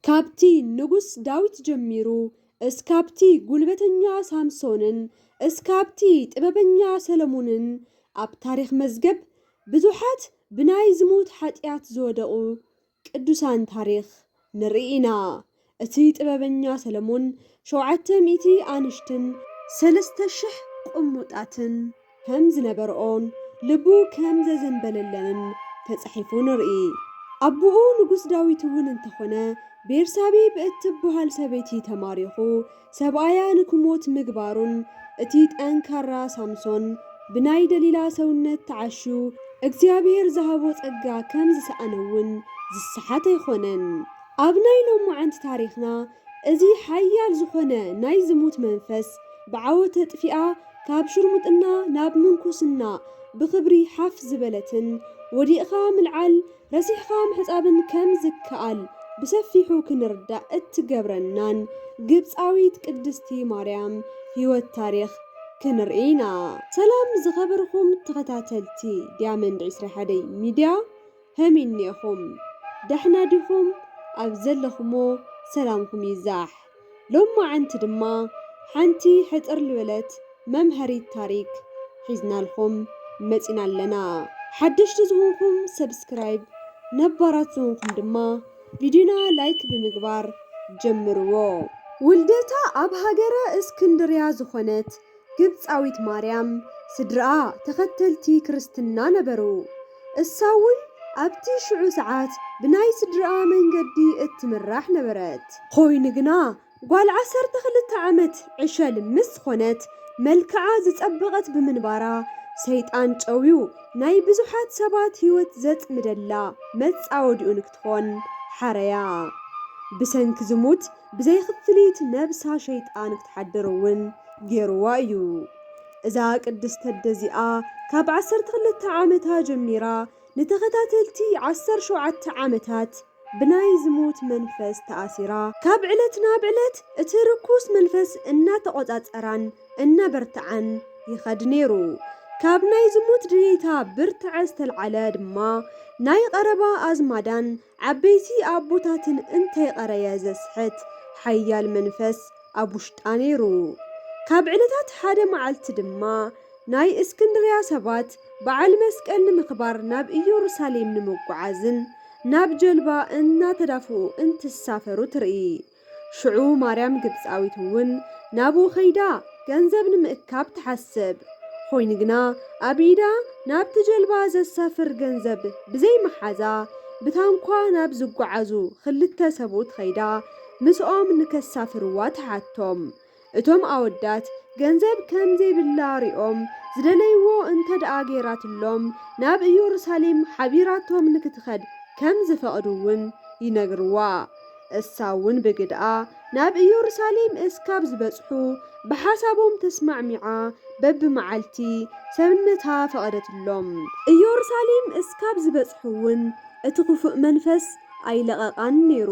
ካብቲ ንጉስ ዳዊት ጀሚሩ እስካብቲ ጉልበተኛ ሳምሶንን እስካብቲ ጥበበኛ ሰለሙንን ኣብ ታሪኽ መዝገብ ብዙሓት ብናይ ዝሙት ሓጥያት ዝወደቁ ቅዱሳን ታሪኽ ንርኢ ኢና እቲ ጥበበኛ ሰለሙን ሸውዓተ ሚእቲ ኣንሽትን ሰለስተ ሽሕ ቁሙጣትን ከም ዝነበርኦን ልቡ ከም ዘዘንበለለንን ተጻሒፉ ንርኢ። ኣቡኡ ንጉስ ዳዊት እውን እንተኾነ ቤርሳቤ ብእትብሃል ሰበይቲ ተማሪኹ ሰብኣያ ንክሞት ምግባሩን እቲ ጠንካራ ሳምሶን ብናይ ደሊላ ሰውነት ተዓሹ እግዚኣብሔር ዝሃቦ ጸጋ ከም ዝሰኣነ እውን ዝሰሓት ኣይኾነን። ኣብ ናይ ሎማዓንቲ ታሪኽና እዚ ሓያል ዝኾነ ናይ ዝሙት መንፈስ ብዓወት ኣጥፊኣ ካብ ሽርሙጥና ናብ ምንኩስና ብኽብሪ ሓፍ ዝበለትን ወዲቕኻ ምልዓል ረሲዕኻ ምሕጻብን ከም ዝከኣል ብሰፊሑ ክንርዳእ እትገብረናን ግብጻዊት ቅድስቲ ማርያም ሕይወት ታሪኽ ክንርኢ ኢና። ሰላም ዝኸበርኹም ተኸታተልቲ ዲያመንድ ዕስራ ሓደይ ሚድያ፣ ከመይ እኔኹም ዳሕና ዲኹም ኣብ ዘለኹሞ ሰላምኩም ይዛሕ ሎማዓንቲ ድማ ሓንቲ ሕጽር ልበለት መምሀሪት ታሪክ ሒዝናልኹም መጺና ኣለና ሓደሽቲ ዝኹንኩም ሰብስክራይብ ነባራት ዝኹንኩም ድማ ቪድዩና ላይክ ብምግባር ጀምርዎ። ውልደታ ኣብ ሃገረ እስክንድርያ ዝኾነት ግብጻዊት ማርያም ስድርኣ ተኸተልቲ ክርስትና ነበሩ። እሳውን ኣብቲ ሽዑ ሰዓት ብናይ ስድርኣ መንገዲ እትምራሕ ነበረት። ኾይኑ ግና ጓል ዓሰርተ ክልተ ዓመት ዕሸል ምስ ዝኾነት መልክዓ ዝጸበቐት ብምንባራ ሰይጣን ጨውዩ ናይ ብዙሓት ሰባት ሕይወት ዘጽምደላ መጻወዲኡ ንክትኾን ሓረያ። ብሰንኪ ዝሙት ብዘይክፍሊት ነብሳ ሸይጣን ክትሓድር እውን ገይሩዋ እዩ። እዛ ቅድስት ተደ እዚኣ ካብ ዓሰርተ ክልተ ዓመታ ጀሚራ ንተኸታተልቲ ዓሰርተ ሸውዓተ ዓመታት ብናይ ዝሙት መንፈስ ተኣሲራ፣ ካብ ዕለት ናብ ዕለት እቲ ርኩስ መንፈስ እናተቖጻጸራን እናበርትዓን ይኸድ ነይሩ። ካብ ናይ ዝሙት ድሌታ ብርትዐ ዝተልዓለ ድማ ናይ ቐረባ ኣዝማዳን ዓበይቲ ኣቦታትን እንተይቐረየ ዘስሕት ሓያል መንፈስ ኣብ ውሽጣ ነይሩ። ካብ ዕለታት ሓደ መዓልቲ ድማ ናይ እስክንድርያ ሰባት በዓል መስቀል ንምኽባር ናብ እየሩሳሌም ንምጉዓዝን ናብ ጀልባ እናተዳፍኡ እንትሳፈሩ ትርኢ። ሽዑ ማርያም ግብጻዊት እውን ናብኡ ከይዳ ገንዘብ ንምእካብ ትሓስብ። ኾይኑ ግና ኣብ ኢዳ ናብቲ ጀልባ ዘሳፍር ገንዘብ ብዘይ ምሓዛ ብታንኳ ናብ ዝጓዓዙ ኽልተ ሰብኡት ኸይዳ ምስኦም ንከሳፍርዋ ትሓቶም። እቶም ኣወዳት ገንዘብ ከም ዘይብላ ሪኦም ዝደለይዎ እንተድኣ ገይራትሎም ናብ ኢዮሩሳሌም ሓቢራቶም ንክትኸድ ከም ዝፈቕዱውን ይነግርዋ። እሳውን ብግድኣ ናብ ኢዮሩሳሌም እስካብ ዝበጽሑ ብሓሳቦም ተስማዕሚዓ በብመዓልቲ ሰብነታ ፈቐደትሎም። ኢዮሩሳሌም እስካብ ዝበጽሑውን እቲ ክፉእ መንፈስ ኣይለቐቓን ነይሩ።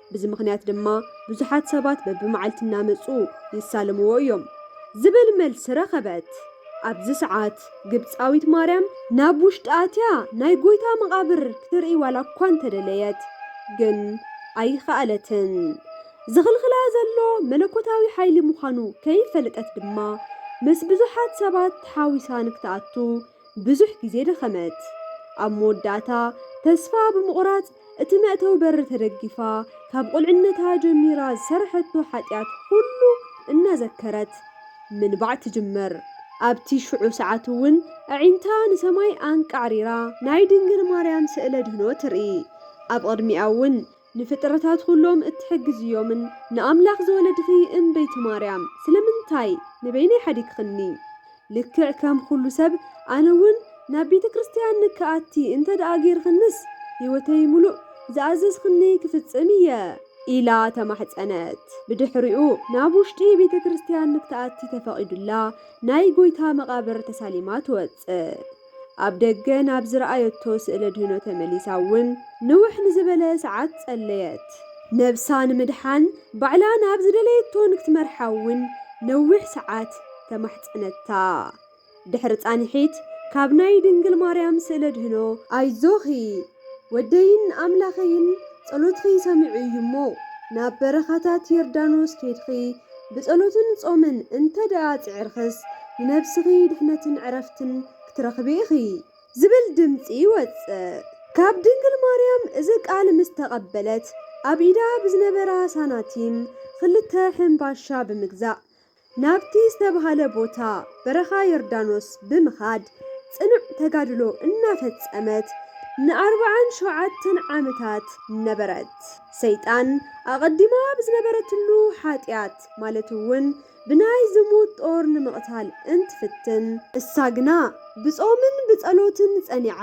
ብዚ ምኽንያት ድማ ብዙሓት ሰባት በብመዓልቲ እናመጹ ይሳለምዎ እዮም። ዝብል መልሲ ረኸበት። ኣብዚ ሰዓት ግብጻዊት ማርያም ናብ ውሽጢ ኣትያ ናይ ጎይታ መቓብር ክትርኢ ዋላ እኳ እንተደለየት ግን ኣይኸኣለትን። ዝኽልኽላ ዘሎ መለኮታዊ ሓይሊ ምዃኑ ከይፈለጠት ድማ ምስ ብዙሓት ሰባት ተሓዊሳ ንክትኣቱ ብዙሕ ግዜ ደኸመት። ኣብ መወዳእታ ተስፋ ብምቑራጽ እቲ መእተዊ በሪ ተደጊፋ ካብ ቁልዕነታ ጀሚራ ዝሰርሐቶ ሓጢኣት ኹሉ እናዘከረት ምንባዕ ትጅምር። ኣብቲ ሽዑ ሰዓት'ውን ኣዒንታ ንሰማይ ኣንቃዕሪራ ናይ ድንግል ማርያም ስእለ ድህኖ ትርኢ። ኣብ ቕድሚኣ'ውን ንፍጥረታት ኹሎም እትሕግዝ እዮምን ንኣምላኽ ዝወለድኺ እምበይቲ ማርያም ስለምንታይ ንበይነይ ሓዲግኽኒ ልክዕ ከም ኹሉ ሰብ ኣነ ውን ናብ ቤተ ክርስትያን ንክኣቲ እንተ ደኣ ጌርኽንስ ሕይወተይ ምሉእ ዝኣዘዝኽኒ ክፍጽም እየ ኢላ ተማሕጸነት ብድሕሪኡ ናብ ውሽጢ ቤተ ክርስትያን ንክትኣቲ ተፈቒዱላ ናይ ጎይታ መቓብር ተሳሊማ ትወጽእ። ኣብ ደገ ናብ ዝረኣየቶ ስእለ ድህኖ ተመሊሳ እውን ንውሕ ንዝበለ ሰዓት ጸለየት። ነብሳ ንምድሓን ባዕላ ናብ ዝደለየቶ ንክትመርሓ እውን ነዊሕ ሰዓት ተማሕጸነታ። ድሕሪ ጻንሒት ካብ ናይ ድንግል ማርያም ስእለ ድህኖ፣ ኣይዞኺ! ወደይን ኣምላኸይን ጸሎትኺ ሰሚዑ እዩ እሞ፣ ናብ በረኻታት ዮርዳኖስ ኬድኺ ብጸሎትን ጾምን እንተ ደኣ ጽዒርክስ፣ ንነብስኺ ድሕነትን ዕረፍትን ክትረኽቢ ኢኺ። ዝብል ድምጺ ይወጽእ። ካብ ድንግል ማርያም እዚ ቃል ምስ ተቐበለት፣ ኣብ ኢዳ ብዝነበራ ሳናቲም ኽልተ ሕንባሻ ብምግዛእ፣ ናብቲ ዝተብሃለ ቦታ በረኻ ዮርዳኖስ ብምኻድ ፅኑዕ ተጋድሎ እናፈፀመት ንኣርብዓን ሸውዓተን ዓመታት ነበረት። ሰይጣን ኣቐዲማ ብዝነበረትሉ ሓጢኣት ማለት እውን ብናይ ዝሙት ጦር ንምቕታል እንትፍትን፣ እሳ ግና ብፆምን ብፀሎትን ፀኒዓ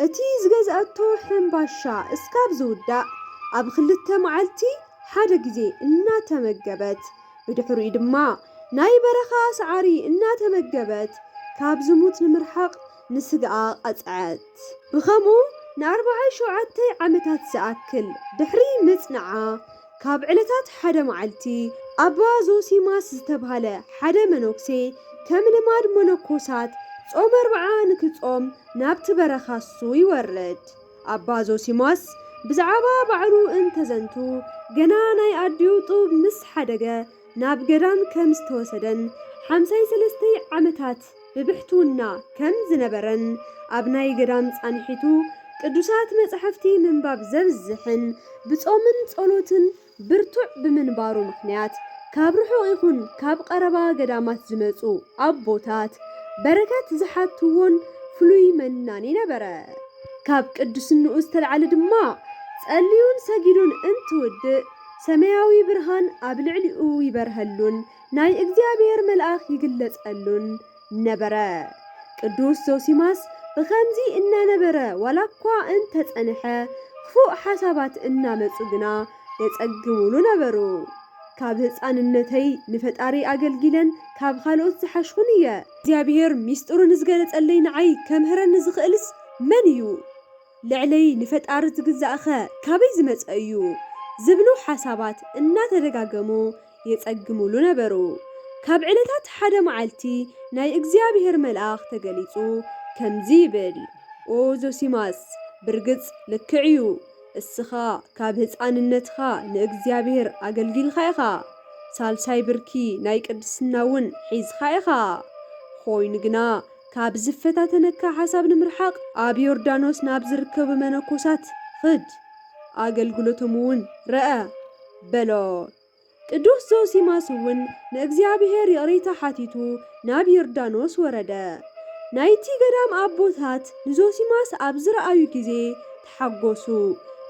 እቲ ዝገዝኣቶ ሕንባሻ እስካብ ዝውዳእ ኣብ ኽልተ መዓልቲ ሓደ ግዜ እናተመገበት ብድሕሪኡ ድማ ናይ በረኻ ሳዕሪ እናተመገበት ካብ ዝሙት ንምርሓቕ ንስጋኣ ቀጽዐት። ብኸምኡ ንኣርባዓይ ሸውዓተይ ዓመታት ዝኣክል ድሕሪ ምጽንዓ፣ ካብ ዕለታት ሓደ መዓልቲ፣ ኣባ ዞሲማስ ዝተባህለ ሓደ መነኩሴ ከም ልማድ መነኮሳት ጾመ ኣርብዓ ንክጾም ናብቲ በረኻ እሱ ይወርድ። ኣባ ዞሲማስ ብዛዕባ ባዕሉ እንተዘንቱ፣ ገና ናይ ኣዲኡ ጡብ ምስ ሓደገ ናብ ገዳም ከም ዝተወሰደን ሓምሳይ ሰለስተይ ዓመታት ብብሕትውና ከም ዝነበረን ኣብ ናይ ገዳም ጻንሒቱ ቅዱሳት መጻሕፍቲ ምንባብ ዘብዝሕን ብጾምን ጸሎትን ብርቱዕ ብምንባሩ ምኽንያት ካብ ርሑቕ ይኹን ካብ ቐረባ ገዳማት ዝመጹ ኣቦታት በረከት ዝሓትዎን ፍሉይ መናኒ ነበረ። ካብ ቅዱስንኡ ዝተልዓለ ድማ ጸልዩን ሰጊዱን እንትውድእ ሰማያዊ ብርሃን ኣብ ልዕሊኡ ይበርሀሉን ናይ እግዚኣብሔር መልኣኽ ይግለጸሉን ነበረ። ቅዱስ ዞሲማስ ብኸምዚ እናነበረ ዋላኳ እንተጸንሐ ኽፉእ ሓሳባት እናመጹ ግና የጸግሙሉ ነበሩ። ካብ ህጻንነተይ ንፈጣሪ ኣገልጊለን ካብ ኻልኦት ዝሓሽኹን እየ። እግዚኣብሔር ሚስጥሩ ንዝገለጸለይ ንዓይ ከምህረኒ ዝኽእልስ መን እዩ? ልዕለይ ንፈጣሪ ዝግዛእኸ ካበይ ዝመጸ እዩ? ዝብሉ ሓሳባት እናተደጋገሙ የጸግሙሉ ነበሩ። ካብ ዕለታት ሓደ መዓልቲ ናይ እግዚኣብሄር መልኣኽ ተገሊጹ ከምዚ ይብል ኦ ዞሲማስ ብርግጽ ልክዕ እዩ እስኻ ካብ ህጻንነትኻ ንእግዚኣብሄር ኣገልጊልካ ኢኻ ሳልሳይ ብርኪ ናይ ቅድስና እውን ሒዝኻ ኢኻ ኾይኑ ግና ካብ ዝፈታተነካ ሓሳብ ንምርሓቅ ኣብ ዮርዳኖስ ናብ ዝርከቡ መነኮሳት ኽድ ኣገልግሎቶም እውን ረኣ በሎ። ቅዱስ ዞሲማስ እውን ንእግዚኣብሔር ይቕሬታ ሓቲቱ ናብ ዮርዳኖስ ወረደ። ናይቲ ገዳም ኣቦታት ንዞሲማስ ኣብ ዝረኣዩ ጊዜ ተሓጎሱ፣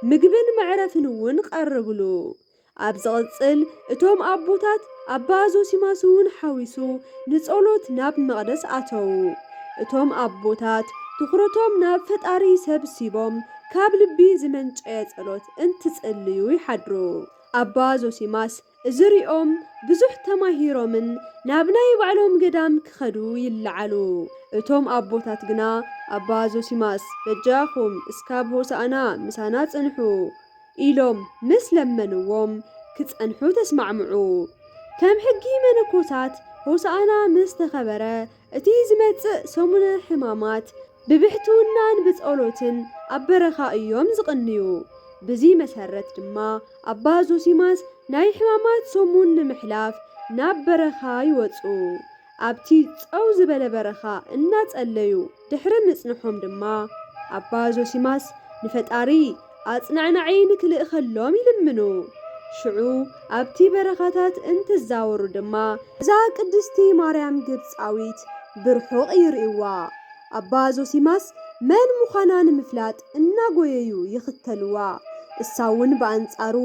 ምግብን መዕረፍን እውን ቐረቡሉ። ኣብ ዝቕጽል እቶም ኣቦታት ኣባ ዞሲማስ እውን ሓዊሱ ንጸሎት ናብ መቕደስ ኣተዉ። እቶም ኣቦታት ትኹረቶም ናብ ፈጣሪ ሰብ ሲቦም ካብ ልቢ ዝመንጨ ጸሎት እንትጽልዩ ይሓድሩ። ኣባ ዞሲማስ እዚ ርእዮም ብዙሕ ተማሂሮምን ናብ ናይ ባዕሎም ገዳም ክኸዱ ይለዓሉ። እቶም ኣቦታት ግና ኣባ ዞሲማስ በጃኹም እስካብ ሆሳእና ምሳና ጽንሑ ኢሎም ምስ ለመንዎም ክጸንሑ ተስማዕምዑ። ከም ሕጊ መነኮሳት ሆሳእና ምስ ተኸበረ እቲ ዝመጽእ ሰሙነ ሕማማት ብብሕትውናን ብጸሎትን ኣብ በረኻ እዮም ዝቕንዩ። ብዚ መሰረት ድማ ኣባ ዞሲማስ ናይ ሕማማት ሰሙን ንምሕላፍ ናብ በረኻ ይወጽኡ። ኣብቲ ጸው ዝበለ በረኻ እናጸለዩ ድሕሪ ምጽንሖም ድማ ኣባ ዞሲማስ ንፈጣሪ ኣጽናዕናዒ ንኪልእኸሎም ይልምኑ። ሽዑ ኣብቲ በረኻታት እንትዛወሩ ድማ። እዛ ቅድስቲ ማርያም ግብጻዊት ብርሑቕ ይርእይዋ። ኣባ ዞሲማስ መን ምዃና ንምፍላጥ እናጎየዩ ይኽተልዋ፣ እሳውን ብኣንጻሩ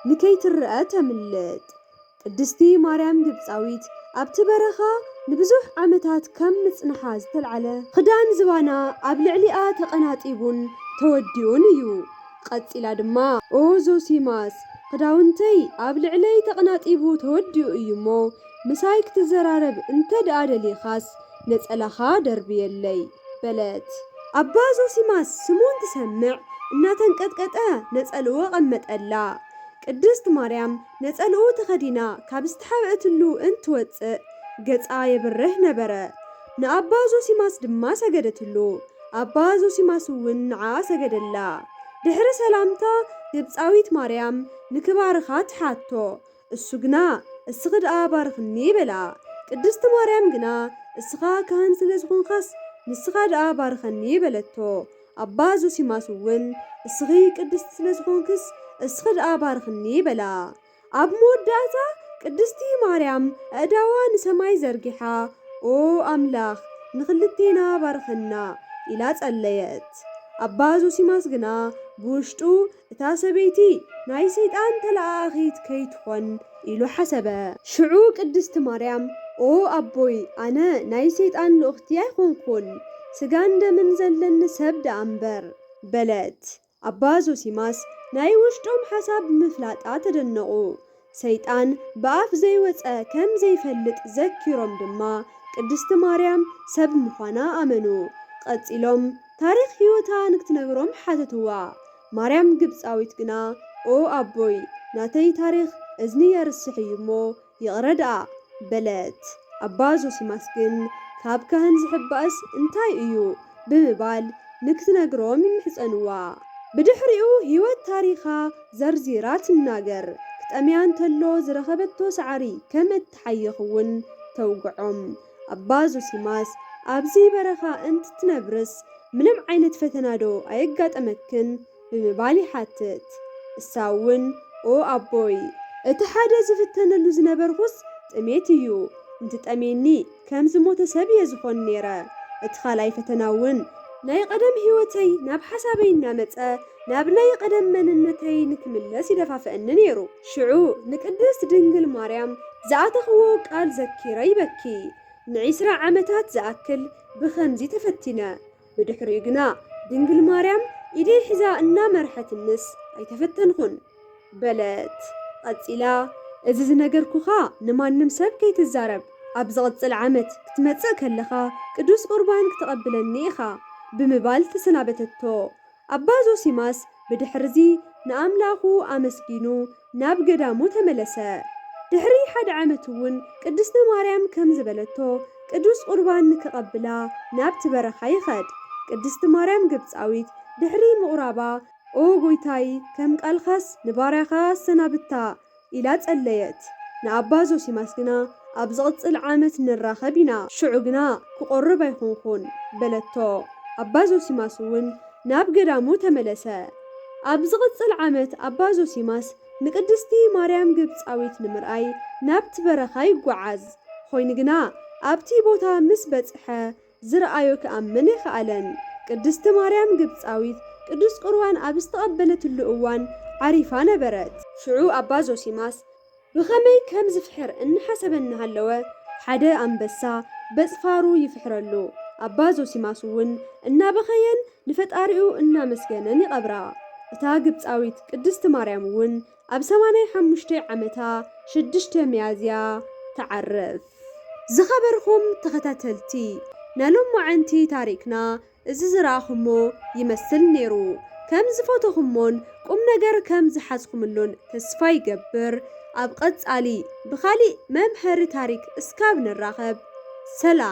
ንከይትረኣ ተምልጥ። ቅድስቲ ማርያም ግብጻዊት ኣብቲ በረኻ ንብዙሕ ዓመታት ከም ምጽንሓ ዝተልዓለ ኽዳን ዝባና ኣብ ልዕሊኣ ተቐናጢቡን ተወዲኡን እዩ። ቐጺላ ድማ ኦ ዞሲማስ ኽዳውንተይ ኣብ ልዕለይ ተቐናጢቡ ተወዲኡ እዩ እሞ ምሳይ ክትዘራረብ እንተ ደኣ ደሊኻስ ነጸላኻ ደርብየለይ በለት። ኣባ ዞሲማስ ስሙ እንትሰምዕ እናተንቀጥቀጠ ነጸልኡ ኣቐመጠላ። ቅድስት ማርያም ነጸልኡ ተኸዲና ካብ ዝተሓብእትሉ እንትወጽእ ገጻ የብርህ ነበረ። ንኣባ ዞሲማስ ድማ ሰገደትሉ። ኣባ ዞሲማስ'ውን ንዓኣ ሰገደላ። ድሕሪ ሰላምታ ግብጻዊት ማርያም ንክባርኻ ትሓቶ። እሱ ግና እስኺ ድኣ ባርኽኒ በላ። ቅድስቲ ማርያም ግና እስኻ ካህን ስለ ዝኾንካስ ንስኻ ድኣ ባርኸኒ በለቶ። ኣባ ዞሲማስ'ውን እስኺ ቅድስቲ ስለ ዝኾንክስ እስኺ ደኣ ባርኽኒ በላ። ኣብ መወዳእታ ቅድስቲ ማርያም ኣእዳዋ ንሰማይ ዘርጊሓ ኦ ኣምላኽ ንኽልቴና ባርኸና ኢላ ጸለየት። ኣባ ዞሲማስ ግና ብውሽጡ እታ ሰበይቲ ናይ ሰይጣን ተለኣኣኺት ከይትኾን ኢሉ ሓሰበ። ሽዑ ቅድስቲ ማርያም ኦ ኣቦይ ኣነ ናይ ሰይጣን ልኡኽቲ ኣይኮንኩን፣ ስጋን ደምን ዘለኒ ሰብ ደኣ እምበር። በለት። ኣባ ዞሲማስ ናይ ውሽጦም ሓሳብ ብምፍላጣ ተደነቑ። ሰይጣን ብኣፍ ዘይወጸ ከም ዘይፈልጥ ዘኪሮም ድማ ቅድስቲ ማርያም ሰብ ምዃና ኣመኑ። ቐጺሎም ታሪኽ ሕይወታ ንክትነግሮም ሓተትዋ። ማርያም ግብጻዊት ግና ኦ ኣቦይ ናተይ ታሪኽ እዝኒ የርስሕ እዩ እሞ ይቕረ ድኣ በለት። ኣባ ዞሲማስ ግን ካብ ካህን ዝሕባእስ እንታይ እዩ ብምባል ንክትነግሮም ይምሕጸንዋ። ብድሕሪኡ ሕይወት ታሪኻ ዘርዚራ ትናገር። ክጠምያ እንተሎ ዝረኸበቶ ሳዕሪ ከም እትሓይኽ እውን ተውግዖም። ኣባ ዞሲማስ፣ ኣብዚ በረኻ እንትትነብርስ ምንም ዓይነት ፈተናዶ ኣየጋጠመክን? ብምባል ይሓትት። እሳ እውን፣ ኦ ኣቦይ! እቲ ሓደ ዝፍተነሉ ዝነበርኹስ ጥሜት እዩ። እንትጠምየኒ ከም ዝሞተ ሰብ እየ ዝኾን ነይረ። እቲ ካልኣይ ፈተና እውን። ናይ ቐደም ህይወተይ ናብ ሓሳበይ እናመጸ ናብ ናይ ቐደም መንነተይ ንክምለስ ይደፋፍኣኒ ነይሩ። ሽዑ ንቅድስት ድንግል ማርያም ዝኣተኽዎ ቃል ዘኪረ ይበኪ። ንዒስራ ዓመታት ዝኣክል ብኸምዚ ተፈቲነ። ብድሕሪኡ ግና ድንግል ማርያም ኢደይ ሒዛ እናመርሐትንስ ኣይተፈተንኹን። በለት። ቐጺላ እዚ ዝነገርኩኻ ንማንም ሰብ ከይትዛረብ፣ ኣብ ዝቕጽል ዓመት ክትመጽእ ከለኻ ቅዱስ ቁርባን ክተቐብለኒ ኢኻ ብምባል ተሰናበተቶ። ኣባ ዞሲማስ ብድሕርዚ ንኣምላኹ ኣመስጊኑ ናብ ገዳሙ ተመለሰ። ድሕሪ ሓደ ዓመት'ውን ቅድስተ ማርያም ከም ዝበለቶ ቅዱስ ቁርባን ንክቐብላ ናብቲ በረኻ ይኸድ። ቅድስቲ ማርያም ግብጻዊት ድሕሪ ምቑራባ፣ ኦ ጎይታይ ከም ቃልካስ ንባርያኻ ኣሰናብታ፣ ኢላ ጸለየት። ንኣባ ዞሲማስ ግና፣ ኣብ ዚቕጽል ዓመት ንራኸብ ኢና፣ ሽዑ ግና ክቖርብ ኣይኰንኩን፣ በለቶ። ኣባ ዞሲማስ እውን ናብ ገዳሙ ተመለሰ። ኣብ ዚቕጽል ዓመት ኣባ ዞሲማስ ንቅድስቲ ማርያም ግብጻዊት ንምርኣይ ናብቲ በረኻ ይጐዓዝ። ኰይኑ ግና፣ ኣብቲ ቦታ ምስ በጽሐ፣ ዝረኣዮ ክኣምን ኣይኸኣለን። ቅድስቲ ማርያም ግብጻዊት ቅዱስ ቍርባን ኣብ ዝተቐበለትሉ እዋን ዓሪፋ ነበረት። ሽዑ ኣባ ዞሲማስ ብኸመይ ከም ዝፍሕር እናሓሰበ እናሃለወ፣ ሓደ ኣንበሳ በጽፋሩ ይፍሕረሉ። ኣባ ዞሲማስ'ውን እናበኸየን ንፈጣሪኡ እናመስገነን ይቐብራ። እታ ግብጻዊት ቅድስቲ ማርያም'ውን ኣብ ሰማንያ ሓሙሽተ ዓመታ ሽዱሽተ ሚያዝያ ትዓርፍ። ዝኸበርኹም ተኸታተልቲ ናሎማዓንቲ ታሪክና እዚ ዝረኣኹሞ ይመስል ኔሩ ከም ዝፈተኹሞን ቁምነገር ከም ዝሓዝኹምሉን ተስፋ ይገብር ኣብ ቐጻሊ ብኻሊእ መምሀሪ ታሪክ እስካብ ንራኸብ ሰላም።